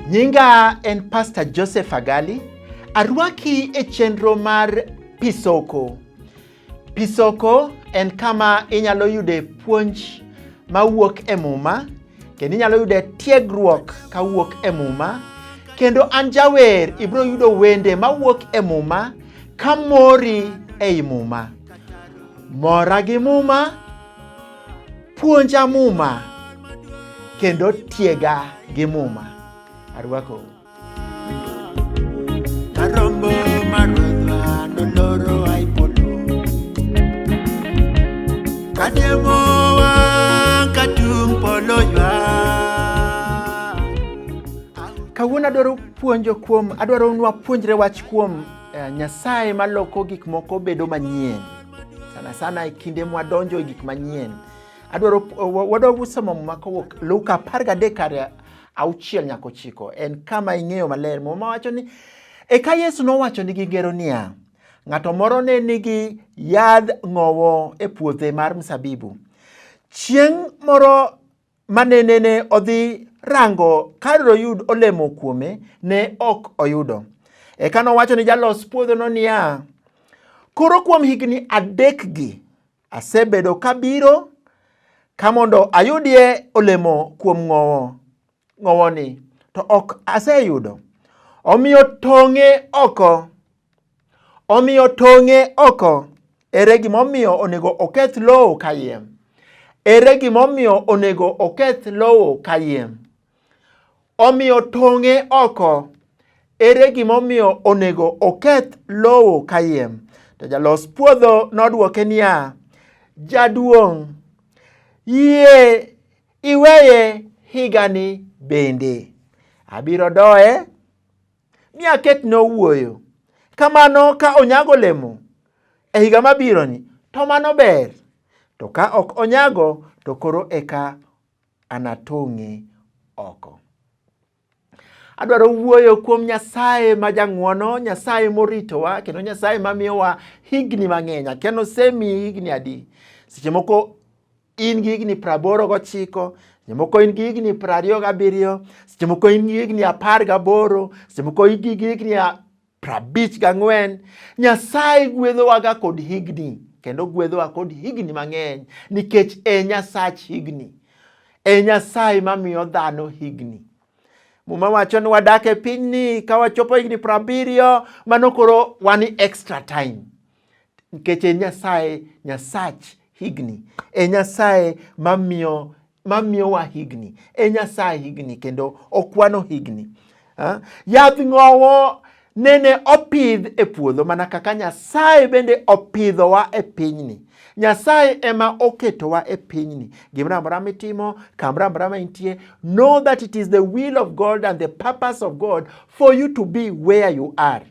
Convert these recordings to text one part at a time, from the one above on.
Nyinga en Pastor Joseph Agali. Arwaki e chenro mar Pisoko. Pisoko en kama inyalo yude puonj mawuok e Muma kendo inyalo yude tiegruok kawuok e Muma kendo an jawer ibiro yudo wende mawuok e Muma ka mori ei Muma. Mora gi Muma, puonja Muma kendo tiega gi Muma. Arwakou. Kawuono adwaro puonjo kuom adwaro nwa puonjre wach kuom eh, Nyasaye maloko gik moko bedo manyien sana sana e kinde mwadonjo e gik manyien adwaro wadwa somo muma kowuok Luka apar gadek auchiel nyaka ochiko en kama ing'eyo maler muma wacho ni eka yesu nowacho nigi ngero niya ng'ato moro ne nigi yadh ng'owo e puothe mar msabibu chieng' moro mane nene odhi rango kar doyud olemo kuome ne ok oyudo eka nowacho ni jalos puodhono niya koro kuom higni adekgi Asebedo kabiro ka mondo ayudie olemo kuom ng'owo ng'owoni, to ok aseyudo. Omiyo tong'e oko, omiyo tong'e oko. Ere gimomiyo onego oketh lowo kayiem? Ere gimomiyo onego oketh lowo kayiem? Omiyo tong'e oko. Ere gimomiyo onego oketh lowo kayiem? To jalos puodho nodwoke niya, Jaduong', yie iweye higani bende. Abiro doye mi aket nowuoyo. Kamano ka onyago olemo e higa mabironi, to mano ber. To ka ok onyago, to koro eka anatong'e oko. Adwaro wuoyo kuom Nyasaye ma jang'wono, Nyasaye moritowa, kendo Nyasaye mamiyowa higni mang'eny. Akiano osemiyi higni adi? Seche moko in gi higni praboro gochiko, seche moko in gi higni prariyo gabiriyo, seche moko in gi higni apar gaboro, seche moko in gi higni Prabich gang'wen, Nyasaye gwedhowaga kod higni, kendo gwedhowa kod higni mang'eny, nikech e Nyasach higni, e Nyasaye mamiyo dhano higni. Muma wacho ni wadak e pinyni ka wachopo higni prabiriyo, mano koro wan extra time. Nikech e Nyasaye, Nyasach higni, e Nyasaye mamiyo mamiyowa higni, e Nyasaye higni kendo okwano higni. Yadh ng'owo nene opidh e puodho mana kaka Nyasaye bende opidhowa e pinyni. Nyasaye ema oketowa e pinyni. Gimoro amora mitimo, kamoro amora ma intie, know that it is the will of God and the purpose of God for you to be where you are.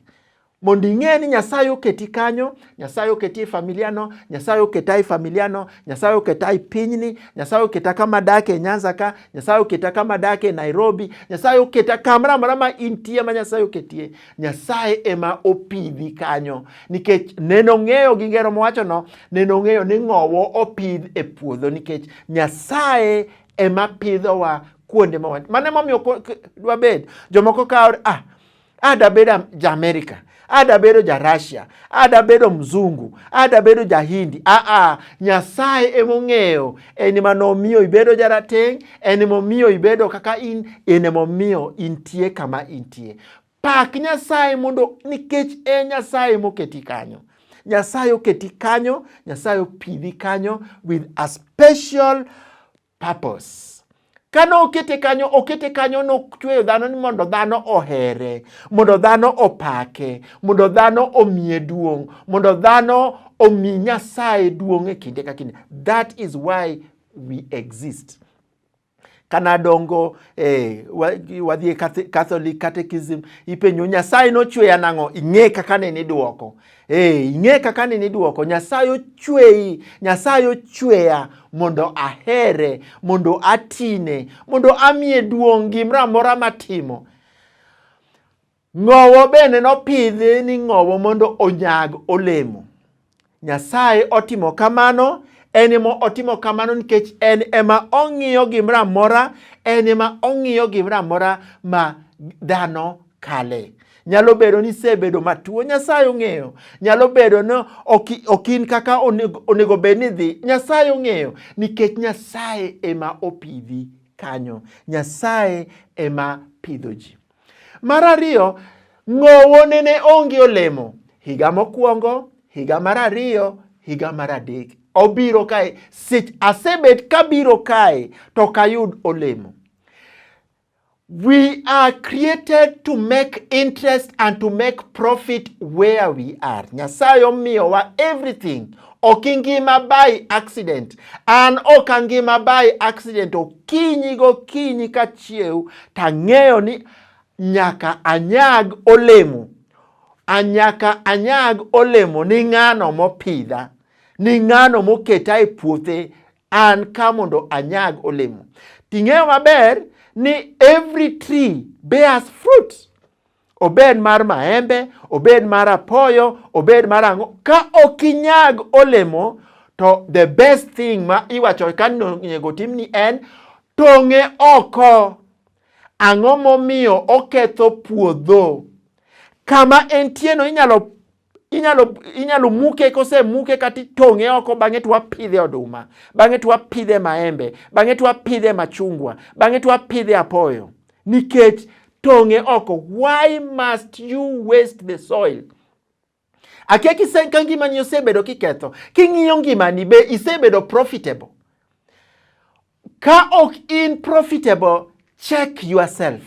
mondo ing'e ni Nyasaye oketi kanyo, Nyasaye oketi e familiano, Nyasaye oketa e familiano, Nyasaye oketa e pinyni, Nyasaye oketa kama adake e Nyanza ka, Nyasaye oketa kama adake e Nairobi, Nyasaye oketa kamoro amora ma intie ma Nyasaye oketie. Nyasaye ema opidhi kanyo nikech neno ng'eyo gi ngero mowachono, neno ng'eyo ni ng'owo opidh e puodho nikech Nyasaye ema pidhowa kuonde ma wan. Mano emomiyo dwabed jomoko kawo ah ada bedo ja Amerika, ada bedo ja Russia, ada bedo mzungu, ada bedo ja Hindi. Aa, ah, ah, Nyasaye emong'eyo en ema nomiyo ibedo jarateng', en emomiyo ibedo kaka in, en emomiyo intie kama intie. Pak Nyasaye mondo nikech e Nyasaye moketi kanyo. Nyasaye oketi kanyo, Nyasaye opidhi kanyo with a special purpose. Kane okete kanyo, okete kanyo nochweyo dhano ni mondo dhano ohere, mondo dhano opake, mondo dhano omiye duong', mondo dhano omi Nyasaye duong' e kinde ka kinde. That is why we exist. Kana dongo eh, wadhi e Catholic Catechism, ipenjo Nyasaye nochweya nang'o? Ing'e kaka ne nidwoko. Ee, ing'e kaka nini dwoko Nyasaye ochweyi, Nyasaye ochweya mondo ahere, mondo atine, mondo amiye duong' gimoro amora matimo. Ng'owo bende nopidhi ni ng'owo mondo onyag olemo. Nyasaye otimo kamano en ema otimo kamano nikech en ema ong'iyo gimoro amora, en ema ong'iyo gimoro amora ma dhano kale. Nyalo bedo ni isebedo matuo, Nyasaye ong'eyo. Nyalo bedo ni ok in kaka onego bed ni dhi, Nyasaye ong'eyo. Nikech Nyasaye ema opidhi kanyo, Nyasaye ema pidho ji. Mar ariyo, ng'owo nene onge olemo. Higa mokwongo, higa mar ariyo, higa mar adek. Obiro kae, asebet kabiro kae to kayud olemo. We are created to make interest and to make profit where we are. Nyasaye omiyowa everything. Ok ingima by accident. An ok angima by accident. Okinyi gokinyi ka chiew tang'eyo ni nyaka anyag olemo. Anyaka anyag olemo ni ng'ano mopidha, ni ng'ano moketa e puothe an ka mondo anyag olemo. Ting'eyo maber ni every tree bears fruit. Obed mar maembe, obed mar apoyo, obed mar ang'o, ka ok inyag olemo to the best thing ma iwacho ka onego timni en tong'e oko. Ang'o momiyo oketho puodho? Kama entieno inyalo inyalo inyalo muke kose muke kata itong'e oko bang'e to wapidhe oduma bang'e to wapidhe maembe bang'e to wapidhe machungwa bang'e to wapidhe apoyo nikech tong'e oko why must you waste the soil akia kisenka ngimani osebedo kiketho king'iyo ngimani be isebedo profitable Ka ok in profitable, check yourself.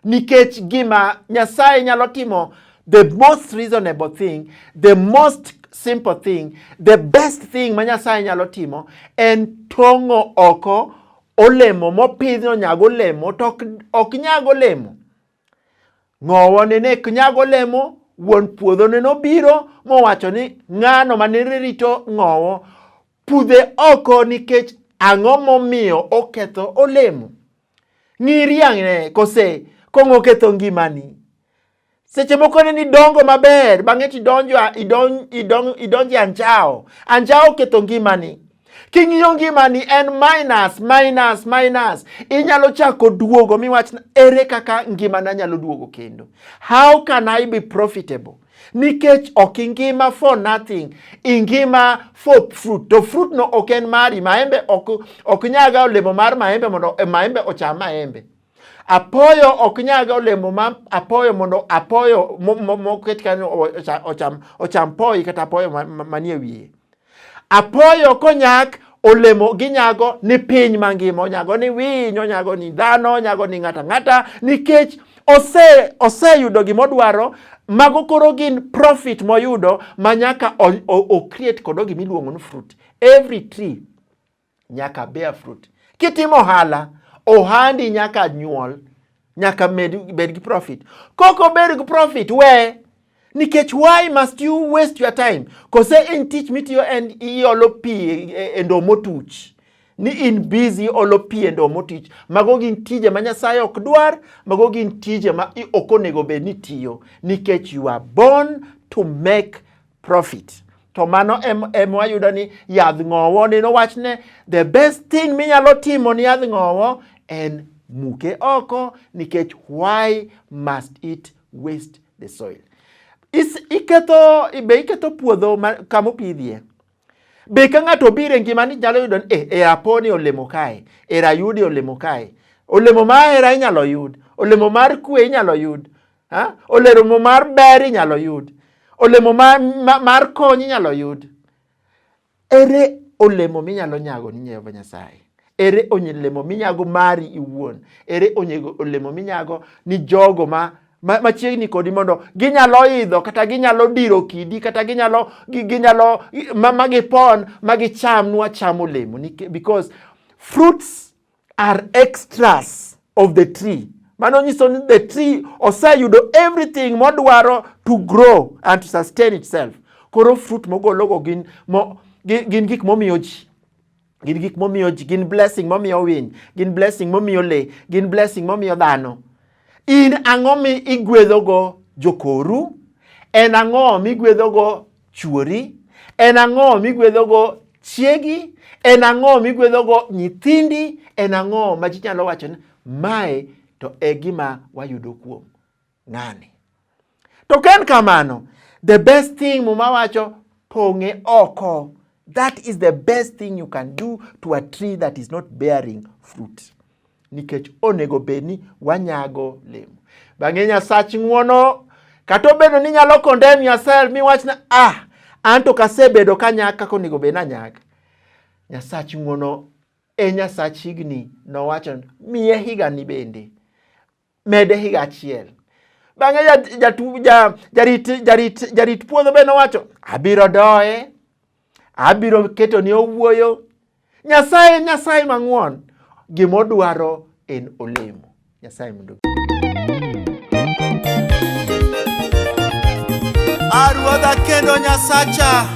Nikech gima Nyasaye nyalo timo the most reasonable thing, the most simple thing, the best thing ma Nyasaye nyalo timo en tong'o oko olemo mopidh nonyago olemo to ok nyag olemo. Ng'owo nene ok nyag olemo, wuon puodho nene obiro mowacho ni ng'ano ma nene rito ng'owo pudhe oko nikech ang'o momiyo oketho olemo. Ng'iri ang'e kose kong'o oketho ngimani. Seche moko ne nidongo maber bang'e tidonjo idonjo idonjo idonjo anjawo. Anjawo oketho ngimani. King'iyo ngimani en minus minus minus. Inyalo chako duogo miwach ere kaka ngimana nyalo duogo kendo. How can I be profitable? Nikech ok ingima for nothing, ingima for fruit. To fruit no ok en mari, maembe ok, ok nyaga olemo mar maembe mondo eh, maembe ocham maembe. Apoyo ok nyag olemo ma apoyo mondo apoyo moket kanyo ocham, ocham poi kata apoyo manie wiye. Apoyo konyak olemo ginyago ni piny mangima, onyago ni winy, onyago ni dhano, onyago ni ng'ata ng'ata nikech ose oseyudo gima odwaro mago koro gin profit moyudo ma nyaka o, o, o create kodo gima iluongo ni fruit every tree nyaka bear fruit. Kitimo ohala, ohandi nyaka nyuol, nyaka med, bed gi profit. Koko bed gi profit, we nikech why must you waste your time? Kose en tich mitiyo en iolo pi e, e ndo motuch ni in busy olo pi e ndo motuch. Mago gin tije ma Nyasaye ok dwar, mago gin tije ma ok onego bed ni tiyo nikech you are born to make profit to mano emwayudo ni yadh ng'owo ni nowach ne the best thing minyalo timo ni yadh ng'owo en muke oko nikech why must it waste the soil Is, iketho be iketho puodho kama opidhie be ka ng'ato obiro e ngima ni nyalo yudo ni eh, e aponi olemo kae e rayudi olemo kae olemo ma hera inyalo yud olemo mar kwe inyalo yud Ha? Olemo mar ber inyalo yud. Olemo mar, mar kony inyalo yud. Ere olemo minyalo nyago ni Jehova Nyasaye? Ere olemo minyago mari iwuon? Ere olemo minyago ni jogo ma machiegni kodi mondo ginyalo idho kata ginyalo diro kidi kata ginyalo ginyalo ma magipon magicham nwa cham olemo because fruits are extras of the tree. Mano nyiso ni the tree oseyudo everything modwaro to grow and to sustain itself. Koro fruit mogologo gin, mo, gin gik momiyo ji gin gik momiyo ji gin blessing momiyo winy gin blessing momiyo le gin blessing momiyo dhano in ang'o mi igwedhogo jokoru en ang'o migwedhogo chwori? En ang'o migwedhogo chiegi? En ang'o migwedhogo nyithindi? En ang'o ma ji nyalo wacho ni mae to e gima wayudo kuom ng'ani? To ka en kamano, the best thing Muma wacho pong'e oko. That is the best thing you can do to a tree that is not bearing fruit. nikech onego bed ni wanyago lemo. Bang'e Nyasach ng'wono, kata obedo ni nyalo condemn yourself miwachna ah, an to kasebedo kanyak kaka onego bed nanyak. Nyasach ng'wono e Nyasach higni nowacho miye higani bende mede higa achiel. Bang'e jarit puodho be nowacho, abiro doye, abiro keto ni owuoyo. Nyasaye Nyasaye mang'won, gimodwaro en olemo. Nyasaye mondo Aruodha kendo Nyasacha